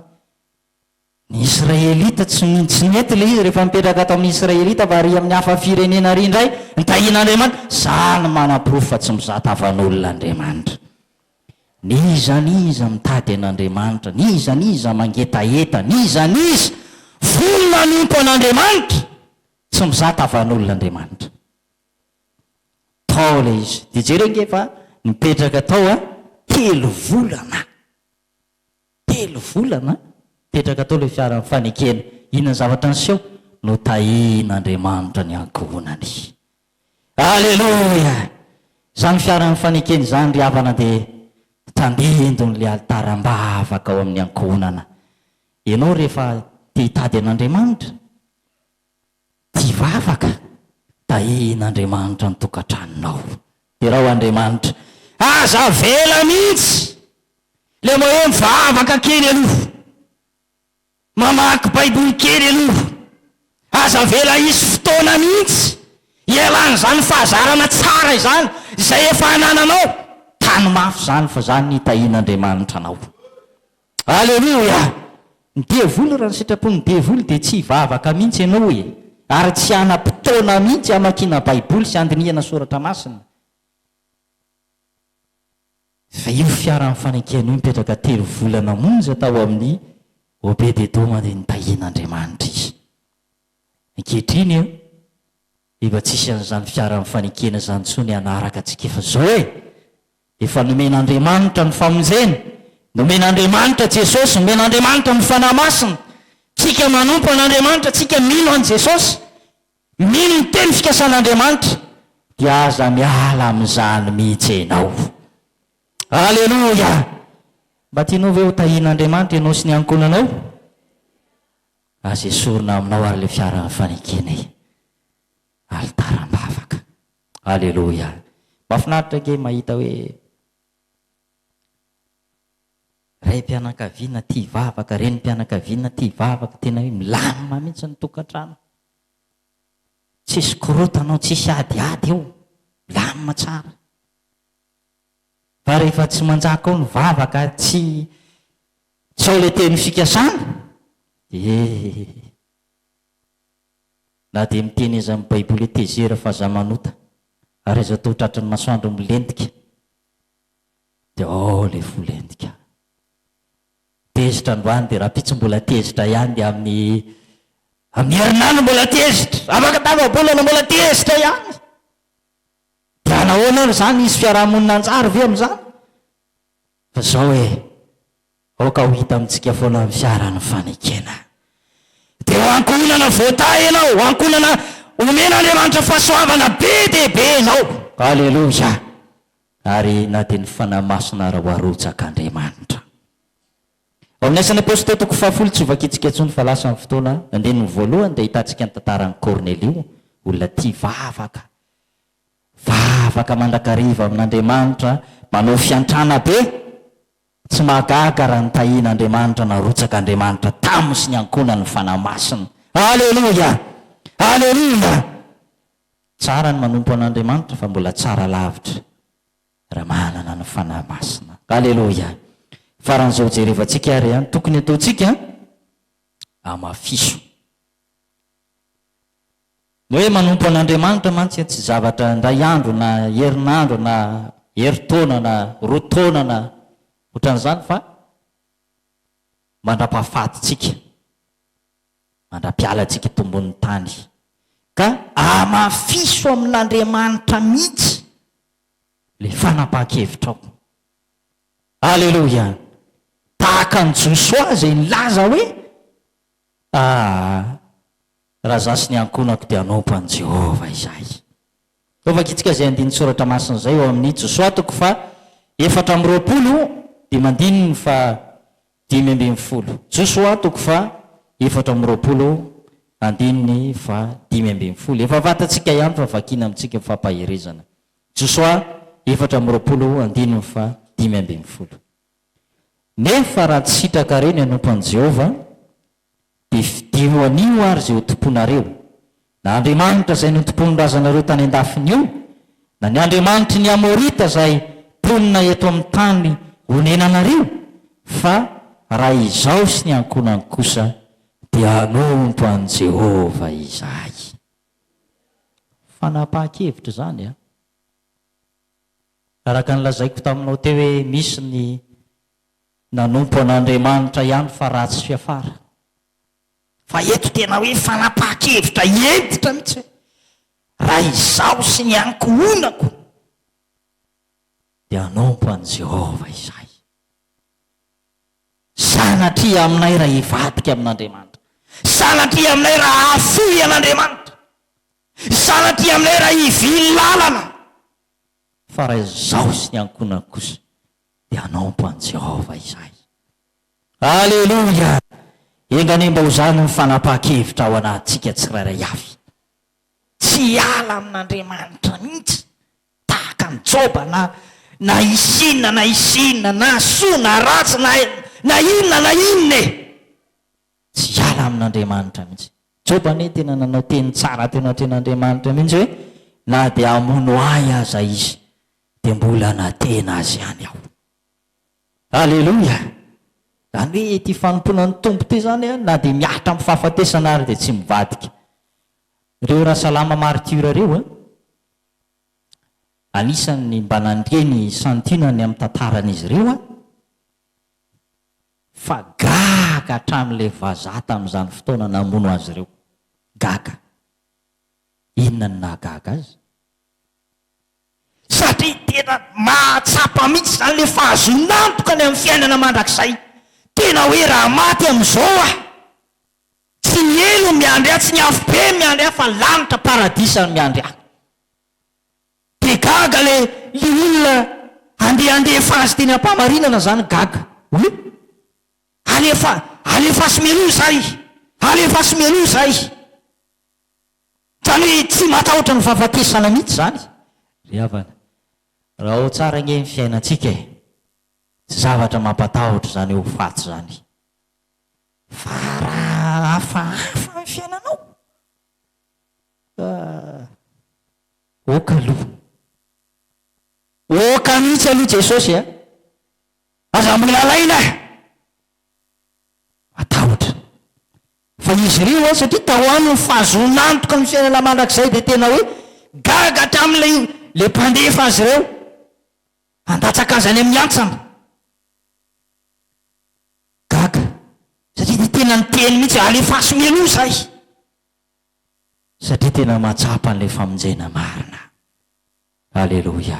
Ny Israelita tsy tsy nety ilay izy rehefa nipetraka tao amin'ny Israelita fa ary amin'ny hafa firenena ary indray ny tahian'Andriamanitra. Izaho no manaporofo fa tsy mizata havan'olona Andriamanitra. N'iza n'iza mitady an'Andriamanitra, n'iza n'iza mangetaheta, n'iza n'iza vonona hanompo an'Andriamanitra, tsy mizata havan'olona Andriamanitra. Tao ilay izy. Dia jereo ange fa nipetraka tao telo volana. Telo volana mipetraka tao ilay fiaran'ny fanekena. Inona ny zavatra niseho? Notahin'Andriamanitra ny ankohonany. Aleloia! Izany fiaran'ny fanekena izany, ry havana, dia tandindon'ilay alitara am-bavaka ao amin'ny ankohonana. Ianao rehefa te-hitady an'Andriamanitra, Tia vavaka, tahin' Andriamanitra ny tokantranonao. Derao Andriamanitra. Aza avela mihitsy le mba hoe mivavaka kely aloha. Mamaky baiboly kely aloha. Aza avela hisy fotoana mihitsy hialan' izany fahazarana tsara izany izay efa anananao. Tano mafy izany fa izany ny hitahian' Andriamanitra anao. Aleloia! Ny devoly raha ny sitrapon'ny devoly dia tsy hivavaka mihintsy ianao e! Ary tsy hanam-potoana mihintsy hamakiana baiboly sy handinihana soratra masina. Fa io fiaran'ny fanenkena io nipetraka telo volana monja tao amin'ny Obed-edoma dia nitahian'Andriamanitra izy. Ankehitriny Efa tsisy an'izany fiara mifanekena izany intsony hanaraka antsika efa zao e! Efa nomen'Andriamanitra ny famonjena, nomen'Andriamanitra Jesosy, nomen'Andriamanitra ny Fanahy Masina, tsika manompo an'Andriamanitra, tsika mino an'i Jesosy, mino ny teny fikasan'Andriamanitra, dia aza miala amin'izany mihitsy ianao. Aleloia! Mba tianao ve ho tahian'Andriamanitra ianao sy ny ankohonanao? Aza esorina aminao ary ilay fiaran'ny fanekena e! Alitara am-bavaka. Aleloia! Mahafinaritra ange mahita hoe raim-pianakaviana tia hivavaka, renim-pianakaviana tia hivavaka, tena hoe milamina mihitsy ny tokantrano. Tsisy korontana ao, tsisy adiady ao, milamina tsara. Fa rehefa tsy manjaka ao ny vavaka, tsy Sao ilay teny fikasana? Ee. Na dia miteny aiza amin'ny baiboly hoe tezera fa za manota ary aiza toa tratry ny masoandro milentika dia ao ilay fo lentika. Tezitra androany dia rahampitso mbola tezitra ihany dia amin'ny amin'ny herinandro mbola tezitra, afaka tapa-bolana mbola tezitra ihany. Dia nahoana ary izany hisy fiaraha-monina hanjary ve amin'izany? Fa zao e, aoka ho hita amintsika foana ny fiaran'ny fanekena. Dia ho ankohonana voatahy ianao, ho ankohonana omen'Andriamanitra fahasoavana be dia be ianao. Aleloia! Ary na dia ny Fanahy Masina ara ho arotsak'Andriamanitra. Ao amin'ny Asan'ny Apostoly toko fahafolo, tsy ho vakintsika intsony fa lasa ny fotoana, andininy voalohany dia ahitantsika ny tantaran'i Kornelio, olona tia vavaka. Vavaka mandrakariva amin'Andriamanitra manao fiantrana be, tsy mahagaga raha notahian'Andriamanitra narotsaka Andriamanitra tamy sy ny ankonany ny Fanahy Masina. Aleloia! Aleloia! Tsara ny manompo an'Andriamanitra fa mbola tsara lavitra raha manana ny Fanahy Masina. Aleloia! Faran'izao jerevantsika ary an, tokony ataontsika, amafiso. Ny hoe manompo an'Andriamanitra mantsy tsy zavatra indray andro na herinandro na herintaona na roa taona na otran'izany fa mandra-pahafatintsika, mandra-pialantsika eto ambonin'ny tany. Ka amafiso amin'Andriamanitra mihitsy ilay fanapahan-kevitrao. Aleloia! Tahaka an'i Josoa izay nilaza hoe, Aa! Raha izaho sy ny ankohonako dia hanompo an'i Jehovah izahay. Toa vakitsika izay andinin-tsoratra masina izay ao amin'ny Josoa toko faha efatra amby roapolo dimy andininy faha dimy ambin'ny folo. Josoa toko faha efatra amby roapolo andininy faha dimy ambin'ny folo. Efa fantatsika ihany fa vakina amintsika ny fampaherezana. Josoa efatra amby roapolo andininy faha dimy ambin'ny folo. Nefa raha tsy sitraka re ny hanompo an'i Jehovah, Dia fidio anio ary izay ho tompoinareo, na andriamanitra izay notompoin'ny razanareo tany an-dafiny io, na ny andriamanitry ny Amorita izay mponina eto amin'ny tany onenanareo, fa raha izaho sy ny ankohonako kosa dia hanompo an'i Jehovah izahay. Fanapahan-kevitra izany an! Araka ny lazaiko taminao teo hoe misy ny Nanompo an'Andriamanitra ihany fa ratsy fiafara. Fa eto tena hoe fanapahan-kevitra hentitra mihitsy hoe raha izaho sy ny ankohonako dia hanompo an'i Jehovah izahay. Sanatria aminay raha hivadika amin'Andriamanitra. Sanatria aminay raha hahafoy an'Andriamanitra. Sanatria aminay raha hivily lalana. Fa raha izaho sy ny ankohonako kosa dia hanompo an'i Jehovah izahay. Aleloia! Enga anie mba ho izany ny fanapahan-kevitra ao anatintsika tsirairay avy. Tsy hiala amin'Andriamanitra mihitsy, tahaka an'i Joba, na na hisy inona na hisy inona, na soa na ratsy, na na inona na inona e! Tsy hiala amin'Andriamanitra mihitsy. Joba anie tena nanao teny tsara teo anatrehan'Andriamanitra mihitsy hoe, Na dia hamono ahy aza izy, dia mbola nanatehina azy ihany aho. Aleloia! Izany hoe ity fanompoana ny Tompo ity izany an, na dia mihatra amin'ny fahafatesana ary dia tsy mivadika. Ireo Rasalama martyrs ireo an, anisan'ny mba nandre ny santionany ny amin'ny tantaran'izy ireo an, fa gaga hatramin'ilay vazaha tamin'izany fotoana namono azy ireo. Gaga. Inona no nahagaga azy? satria tena mahatsapa mihitsy izany ilay fahazoan'antoka ny amin'ny fiainana mandrakizay. Tena hoe raha maty amin'izao aho, tsy ny helo no miandry ahy, tsy ny afobe no miandry ahy fa lanitra, paradisa no miandry ahy. Dia gaga ilay ilay olona handeha handefa azy teny am-pahamarinana izany, gaga hoe alefa, alefaso mialoha izay, alefaso mialoha izay. Fa ny tsy matahotra ny fahafatesana mihitsy izany ry havana. Raha ao tsara ange ny fiainantsika e! Tsy zavatra mampatahotra izany ho faty izany. Fa raha hafahafa ny fiainanao ka ok aloha. Ok mihitsy aloha Jesosy a! Aza mbola alaina e! Matahotra. Fa izy ireo hoy aho satria tao aminy ny fahazoan'antoka ny fiainana mandrakizay dia tena hoe gaga hatramin'ilay ilay mpandefa azy ireo handatsaka azy any amin'ny antsana. Gaga satria dia tena niteny mihitsy hoe alefaso mialoha izahay satria tena mahatsapa an'ilay famonjena marina. Aleloia.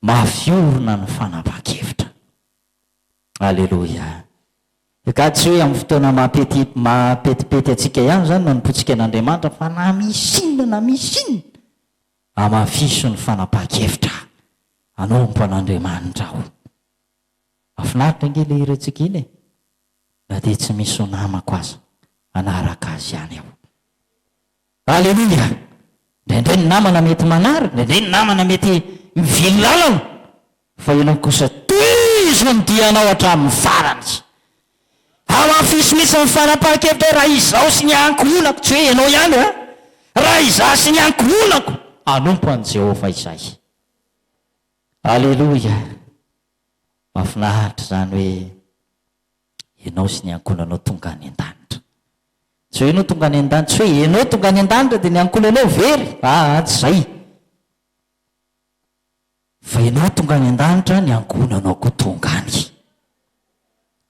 Mafy orina ny fanapahan-kevitra. Aleloia. Nga tsy hoe amin'ny fotoana mampety mampetipety antsika ihany izany no anompoantsika an'Andriamanitra fa na misy inona na misy inona hamafiso ny fanapahan-kevitra hanompo an'Andriamanitra aho. Mahafinaritra ange ilay hirantsika iny e! Na dia tsy misy ho namako aza hanaraka azy ihany aho. Aleloia! Indraindray ny namana mety manary, indraindray ny namana mety mivily lalana, fa ianao kosa tohizo ny dianao hatramin'ny farany. Hamafiso mihitsy ny fanapahan-kevitra hoe, Raha izaho sy ny ankohonako, tsy hoe ianao ihany an, raha izaho sy ny ankohonako, hanompo an'i Jehovah izahay. Aleloia! Mahafinaritra izany hoe. ianao sy ny ankohonanao tonga any an-danitra. Tsy hoe ianao tonga any an-danitra, tsy hoe ianao tonga any an-danitra dia ny ankohonanao very, aa tsy izay, fa ianao tonga any an-danitra, ny ankohonanao koa tonga any.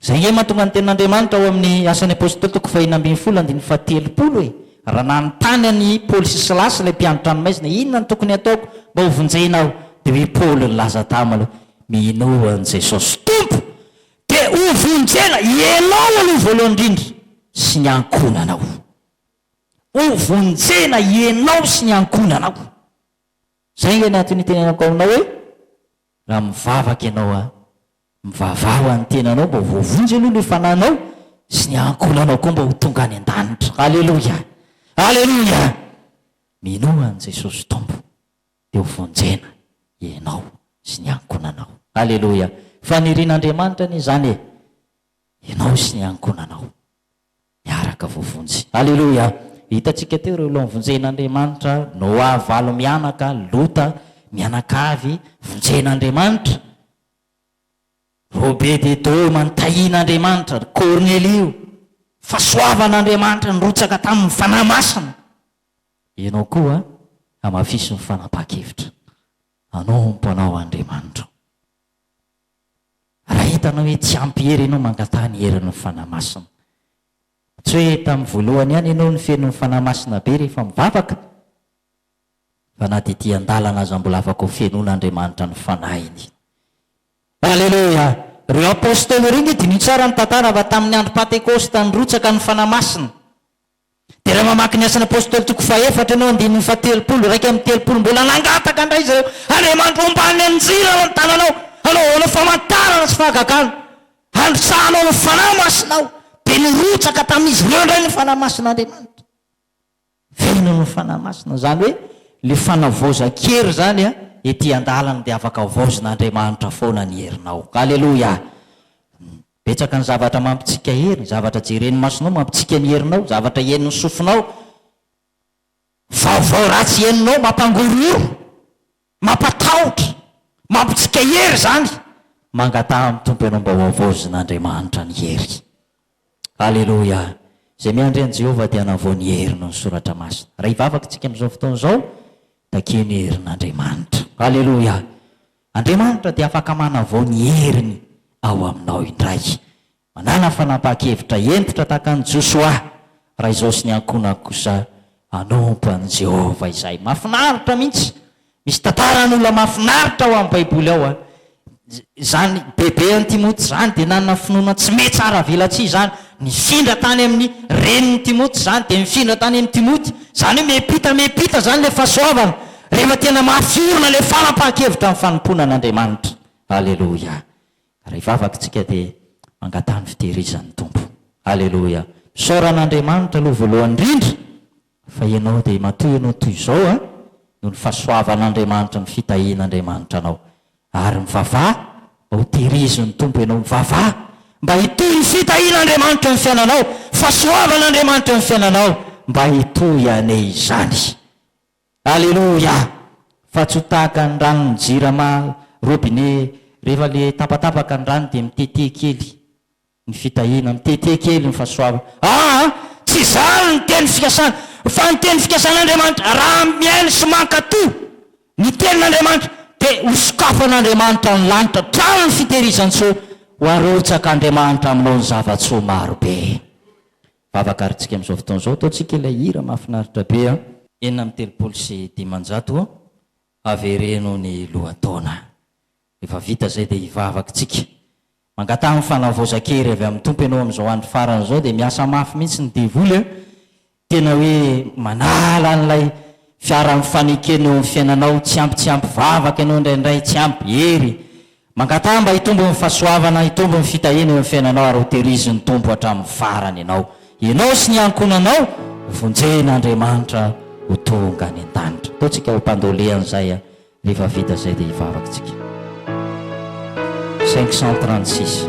Izay ange mahatonga ny tenin'Andriamanitra ao amin'ny Asan'ny Apôstôly toko fahefatra ambin'ny folo andininy fahatelopolo e! Raha nanontany an'i Paoly sy Silasy ilay mpiandry tranomaizina, inona no tokony hataoko mba hovonjena aho? Dia hoy Paoly nilaza taminy hoe, Minoa an'i Jesosy Tompo, Dia hovonjena ianao aloha voalohany indrindra sy ny ankohonanao. Hovonjena ianao sy ny ankohonanao. Izay ange ny antony itenenako aminao hoe, raha mivavaka ianao an, mivavaha ho an'ny tenanao mba ho voavonjy aloha ilay fanahinao, sy ny ankohonanao koa mba ho tonga any an-danitra. Aleloia! Aleloia! Minoa an'i Jesosy Tompo. dia ho vonjena ianao sy ny ankonanao. Aleloia! Fanirian'Andriamanitra anie izany e! Ianao sy ny ankonanao miaraka voavonjy. Aleloia! Hitantsika teo ireo laonvonjen'Andriamanitra, Noa valo mianaka, Lota, mianakavy vonjen'Andriamanitra, Robededoma nitahian'Andriamanitra, ry Kornelio, fahasoavan'Andriamanitra nirotsaka tamin'ny Fanahy Masina. Ianao koa hamafiso ny fanapahan-kevitra hanompo anao Andriamanitro. Raha hitanao hoe tsy ampy hery ianao mangataha ny herin'ny Fanahy Masina. Tsy hoe tamin'ny voalohany ihany ianao no feno ny Fanahy Masina be rehefa mivavaka, fa na dia ety an-dalana aza mbola afaka ho fenoin'Andriamanitra ny Fanahiny. Aleloia! Ireo Apostoly ireo nge diniho tsara ny tantara fa tamin'ny andro Pantekosta nirotsaka ny Fanahy Masina. Dia raha mamaky ny Asan'ny Apôstôly toko fahaefatra ianao, andininy fahatelopolo iraika amby telopolo, mbola nangataka indray izy ireo, Andriamanitro ambany anjely ao an-tananao, hanaovanao famantarana sy fahagagana, handrosahanao ny Fanahy Masinao. Dia nirotsaka tamin'izy ireo indray ny Fanahy Masin'Andriamanitra. Velona ny Fanahy Masina. Izany hoe ilay fanavaozan-kery izany an, ety an-dalana dia afaka havaozin'Andriamanitra foana ny herinao. Aleloia! Betsaka ny zavatra mampitsika hery, ny zavatra jeren'ny masonao mampitsika ny herinao, zavatra henon'ny sofinao, vaovao ratsy henonao mampangorohoro, mampatahotra, mampitsika hery izany. Mangataha amin'ny Tompo ianao mba hohavaozin'Andriamanitra ny hery. Aleloia! Izay miandry an'i Jehovah dia hanavao ny heriny ny Soratra Masina. Raha hivavaka isika amin'izao fotoana izao, takio ny herin'Andriamanitra. Aleloia! Andriamanitra dia afaka manavao ny heriny ao aminao indray. Manala fanapahan-kevitra hentitra tahaka an'i Josoa raha izao sy ny ankohonany kosa hanompo an'i Jehovah izahay. Mahafinaritra mihitsy! Misy tantaran'olona mahafinaritra ao amin'ny Baiboly ao. Izany bebe an'i Timoty izany dia nanana finoana tsy mety tsara avelatsihy izany. Nifindra tany amin'ny renin'i Timoty izany, dia nifindra tany amin'i Timoty. Izany hoe miampita miampita izany ilay fahasoavana. Rehefa tena mafy orina ilay fanapahan-kevitra amin'ny fanompoana an'Andriamanitra. Aleloia. Ary hivavaka isika dia mangataha ny fitehirizan'ny Tompo. Aleloia. Misaora an'Andriamanitra aloha voalohany indrindra fa ianao dia matoy anao toy izao an, noho ny fahasoavan'Andriamanitra, ny fitahian'Andriamanitra anao. Ary mivavaha mba ho tehirizin'ny Tompo ianao. Mivavaha mba hitohy ny fitahian'Andriamanitra eo amin'ny fiainanao, fahasoavan'Andriamanitra eo amin'ny fiainanao, mba hitohy anie izany. Aleloia! Fa tsy ho tahaka ny ranon'ny jirama robinet rehefa le tapatapaka ny rano dia mitete kely ny fitahiana, mitete kely ny fahasoavana. Aa! Tsy izany ny teny fikasana. Fa ny teny fikasan'Andriamanitra, raha mihaino sy mankatò ny tenin'Andriamanitra, dia ho sokafan'Andriamanitra ny lanitra hatrany ny fitehirizan-tsoa ho arotsak'Andriamanitra aminao ny zava-tsoa marobe. Vavaka ary tsika amin'izao fotoana izao ataontsika ilay hira mahafinaritra be an! Enina amby telopolo sy dimanjato avereno ny lohataona. Rehefa vita izay dia hivavaka tsika. Mangataha ny fanavaozan-kery avy amin'ny Tompo ianao amin'izao andro farany izao dia miasa mafy mihitsy ny devoly an! Tena hoe manala an'ilay fiaran'ny fanekena eo amin'ny fiainanao, tsy ampy tsy ampy vavaka ianao indraindray, tsy ampy hery, Mangataha mba hitombo ny fahasoavana, hitombo ny fitahiana eo amin'ny fiainanao ary hoterizin'ny Tompo hatramin'ny farany ianao. Ianao sy ny ankohonanao vonjen'Andriamanitra ho tonga any an-danitra. Ataontsika ho mpandole an'izay an! Rehefa vita izay dia hivavaka isika. 536.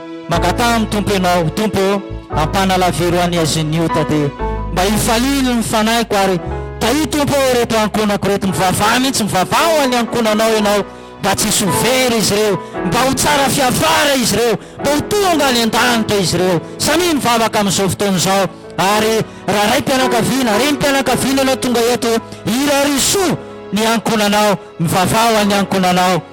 Mangataha amin'ny Tompo ianao, Tompo ô, ampanalaviro an'i Aziniota dia mba hifalily ny fanahiko ary tahio Tompo ô ireto ankonako ireto, mivavaha mihitsy, mivavaha ho an'ny ankonanao ianao mba tsy hisy ho very izy ireo, mba ho tsara fiafara izy ireo, mba ho tonga any an-danitra izy ireo. Samia mivavaka amin'izao fotoana izao ary raharaim-pianakaviana, renim-pianakaviana ianao tonga eto, irarisoa ny ankonanao, mivavaha ho an'ny ankonanao.